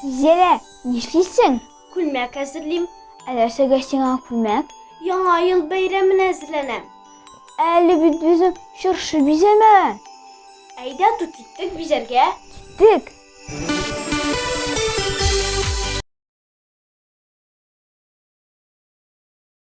Зилә, нишлисең? Күлмәк әзерлим. Ә нәрсәгә сиңа күлмәк? Яңа ел бәйрәменә әзерләнәм. Әле бит безнең чыршы бизәмәгән. Әйдә тот иттек бизәргә. Тик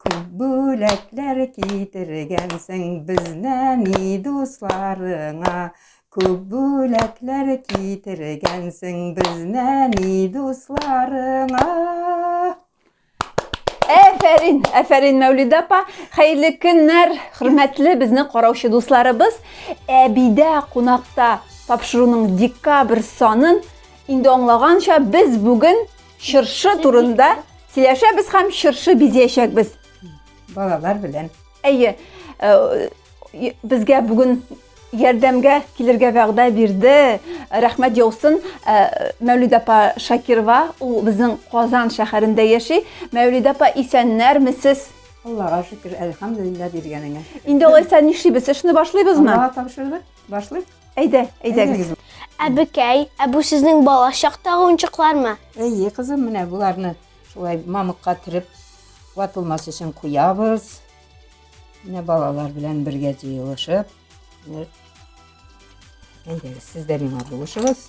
Күп бүләкләр китергәнсең безнәни дусларыңа. Күп бүләкләр китергәнсең безнәни дусларыңа. Әфәрин, әфәрин Мәүлидә апа. Хәерле көннәр, хөрмәтле безне караучы дусларыбыз. Әбидә кунакта тапшыруның декабрь санын инде аңлаганча без бүген Чыршы турында сөйләшәбез һәм чыршы бизәячәкбез. Балалар белән. Әйе, э, безгә бүген ярдәмгә килергә вәгъдә бирде. Рәхмәт яусын э, Мәүлид апа Шакирова, ул безнең Казан шәһәрендә яши. Мәүлид апа, исәннәрмесез? Аллага шөкер, әлхәмдулилла биргәнеңә. Инде алайса нишлибез? Эшне башлыйбызмы? Аллага тапшырдык. Башлыйк. Әйдә, әйдәгез. Әбекәй, ә бу сезнең бала чактагы уенчыклармы? Әйе, кызым, менә боларны шулай мамыкка төреп ватылмас өчен куябыз. Менә балалар белән бергә җыелышып. Әйдәгез, сез дә миңа булышыгыз.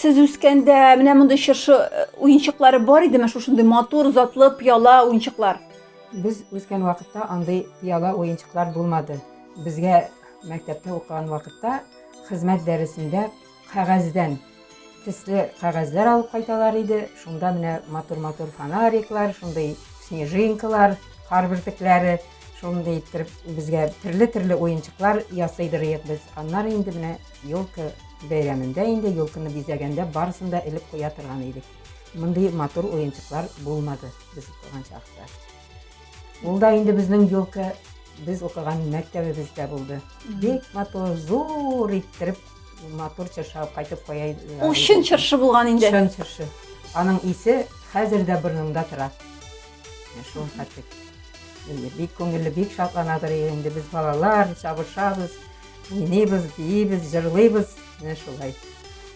Сез үскәндә менә мондый чыршы э, уенчыклары бар идеме? Шушындый матур, затлы, пыяла уенчыклар. Без үскән вакытта андый пыяла уенчыклар булмады. Безгә мәктәптә укыган вакытта хезмәт дәресендә кәгазьдән тисле кәгазьләр алып кайталар иде. Шунда менә матур-матур фонариклар, шундый снежинкалар, кар бөртекләре, шундый иттереп безгә төрле-төрле уенчыклар ясыйдыр идек без. Аннары инде менә Елка бәйрәмендә инде елканы бизәгәндә барысын да элеп куя торган идек. Мондый матур уенчыклар булмады без укыган чакта. Ул да инде безнең елка без укыган мәктәбебездә булды. Бик матур, зур иттереп матур чыршы алып кайтып куя иде. Ул чын чыршы булган инде. Чын чыршы. Аның исе хәзер дә борынымда тора. Шул хәтлек. Бик күңелле, бик шатланадыр инде без балалар, чабышабыз. Уйныйбыз, биибез, җырлыйбыз, менә шулай.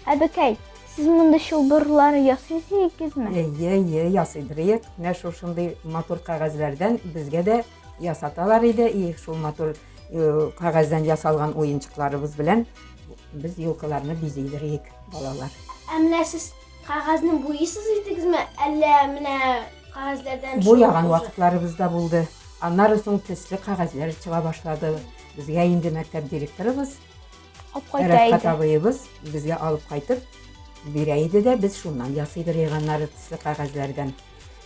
Әбекәй, сез монда чылбырлар ясыйсыз икезме? Әйе, әйе, ясыйдырыек. Менә шул шундый матур кәгазьләрдән безгә дә ясаталар иде. И, шул матур э, кәгазьдән ясалган уенчыкларыбыз белән без елкаларны бизидерик, балалар. Ә менә сез кәгазьне буйсыз идегезме, әллә менә кәгазьләрдән Буяган вакытларыбыз да булды. Аннары соң төсле кәгазьләр чыга башлады. Безгә инде мәктәп директорыбыз Алып кайта Рәфкат иде. абыебыз безгә алып кайтып бирә иде дә, без шуннан ясыйбыз рейганнары төсле кәгазьләрдән.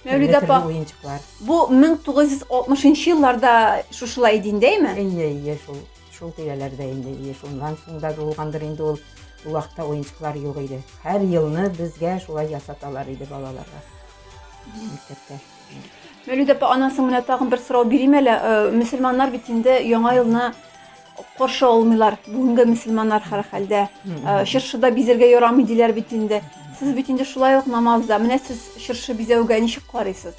Мәүлидә Төрле-төрле апа, уенчыклар. бу 1960 елларда шушылай иде инде, әйме? Әйе, әйе, шул, шул тирәләрдә инде, әйе, шуннан соң да булгандыр инде ул. Ул вакытта уенчыклар юк иде. Һәр елны безгә шулай ясаталар иде балаларга. Мәктәптә. Мәүлид апа, анан соң менә тагын бер сорау бирим әле. Э, мөселманнар бит инде яңа елны каршы алмыйлар. Бүгенге мөселманнар хәр хәлдә. Э, чыршыда бизәргә ярамый диләр бит инде. Сез бит инде шулай ук намазда. Менә сез чыршы бизәүгә ничек карыйсыз?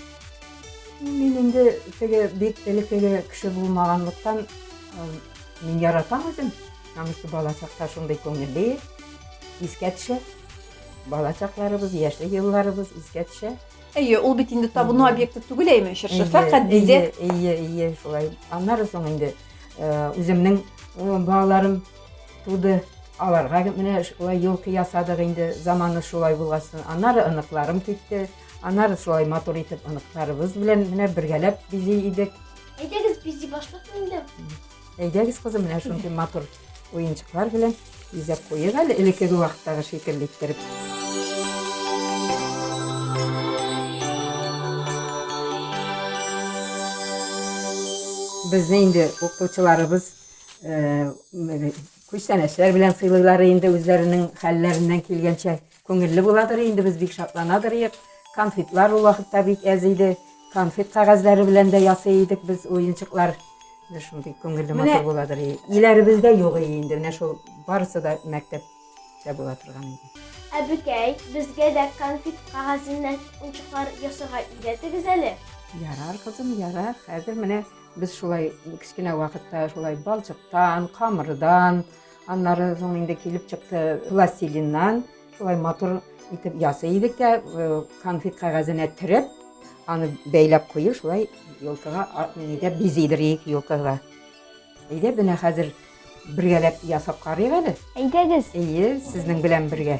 Мин инде теге бик элеккеге кеше булмаганлыктан э, мин яратам үзем. Намыслы бала чакта шундый күңелле искә төшә. Бала чакларыбыз, яшьлек елларыбыз искә төшә. Әйе, ул бит инде табыну объекты түгел әйме, чыршы, фәкать диде. Әйе, әйе, шулай. Аннары соң инде э, үземнең э, балаларым туды. Аларга менә шулай елкы ясадык инде, заманы шулай булгасын. Аннары оныкларым китте. Аннары шулай матур итеп оныкларыбыз белән менә бергәләп бизи идек. Әйдәгез бизи башлык инде. Әйдәгез, кызым, менә шундый матур уенчыклар белән бизәп куйыйк әле элеккеге вакыттагы шикелле иттереп. Безне инде укытучыларыбыз күчтәнәчләр белән сыйлыйлар инде үзләренең хәлләреннән килгәнчә. Күңелле буладыр инде, без бик шатланадырыек. Конфетлар ул вакытта бик әз иде. Конфет кәгазьләре белән дә ясый идек без уенчыклар. Менә шундый күңелле матур буладыр. Иләребездә юк иде инде, менә шул барысы да мәктәп дә була торган иде. Әбекәй, безгә дә конфет кәгазеннән унчыклар ясарга өйрәтегез әле. Ярар, кызым, ярар. Хәзер менә без шулай кечкенә вакытта шулай балчыктан, камырдан, Аннары соң инде килеп чыкты пластилиннан, шулай матур итеп ясый идек тә, конфет кәгазенә төреп, аны бәйләп кую, шулай елкага нигә бизидер ик елкага. Әйдә, менә хәзер бергәләп ясап карыйк әле. Әйдәгез. Әйе, сезнең белән бергә.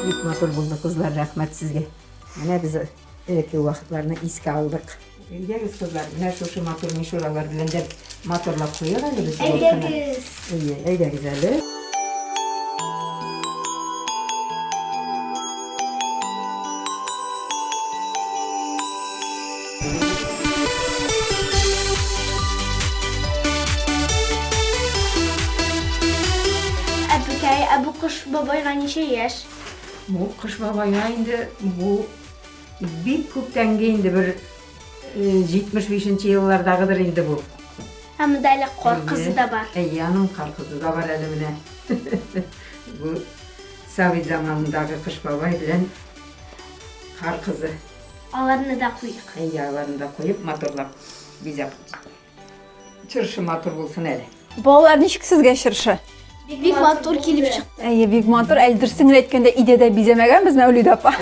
Бик матур булды, кызлар, рәхмәт сезгә. Менә без элекке вакытларны искә алдык. Әйдәгез, кызлар, менә шушы матур мишуралар белән дә матурлап куйыйк әле без елкыны. Әйдәгез. Әйдәгез әле. Әбекәй, ә бу Кыш бабайга ничә яшь? Бу Кыш бабайга инде бу Бик күптәнге инде, бер 75 нче еллардагыдыр инде бу. Ә монда әле кар кызы да бар. Әйе, аның кар кызы да бар әле менә. Бу Совет заманындагы Кыш бабай белән кар кызы. Аларны да куйдык. Әйе, аларны да куеп, матурлап бизәп Чыршы матур булсын әле. Балалар, ничек сезгә чыршы? Бик матур килеп чыкты. Әйе, бик матур. Әле дөресен генә әйткәндә, өйдә дә бизәмәгәнбез Мәүлид апа.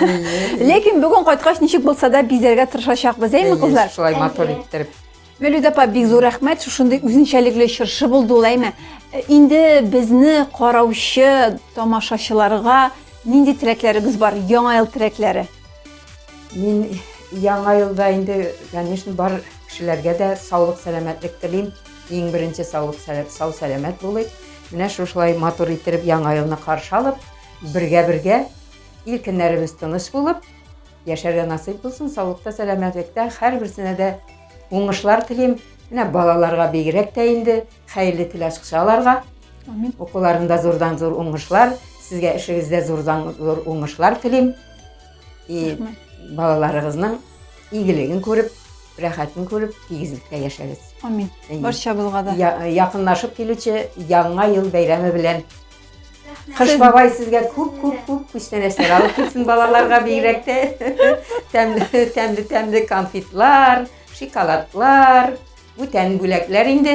Ләкин бүген кайткач ничек булса да бизәргә тырышачакбыз, әйме, кызлар? Шулай матур иттереп. Мәүлид апа, бик зур рәхмәт. Шушындый үзенчәлекле чыршы булды ул, әйме. Э, инде безне караучы тамашачыларга нинди теләкләрегез бар? Яңа ел теләкләре. Мин яңа елда инде, конечно, бар кешеләргә дә саулык, сәламәтлек телим. Иң беренче саулык, сау сәламәт булыйк. Менә шушылай матур иттереп яңа елны каршы алып, бергә-бергә ил көннәребез тыныч булып, яшәргә насыйп булсын, саулыкта, сәламәтлектә, һәрберсенә дә уңышлар телим. Менә балаларга бигрәк тә инде хәерле тел ачкычы аларга. Амин. Укуларында зурдан зур уңышлар, сезгә эшегездә зурдан зур уңышлар телим. И балаларыгызның игелеген күреп, рәхәтен күреп, тигезлектә яшәгез. Амин. Барчабызга да. Якынлашып килүче яңа ел бәйрәме белән Кыш бабай сезгә күп күп күп күчтәнәчләр алып килсен балаларга бигрәк тә тәмле тәмле тәмле конфетлар, шоколадлар, бүтән бүләкләр инде.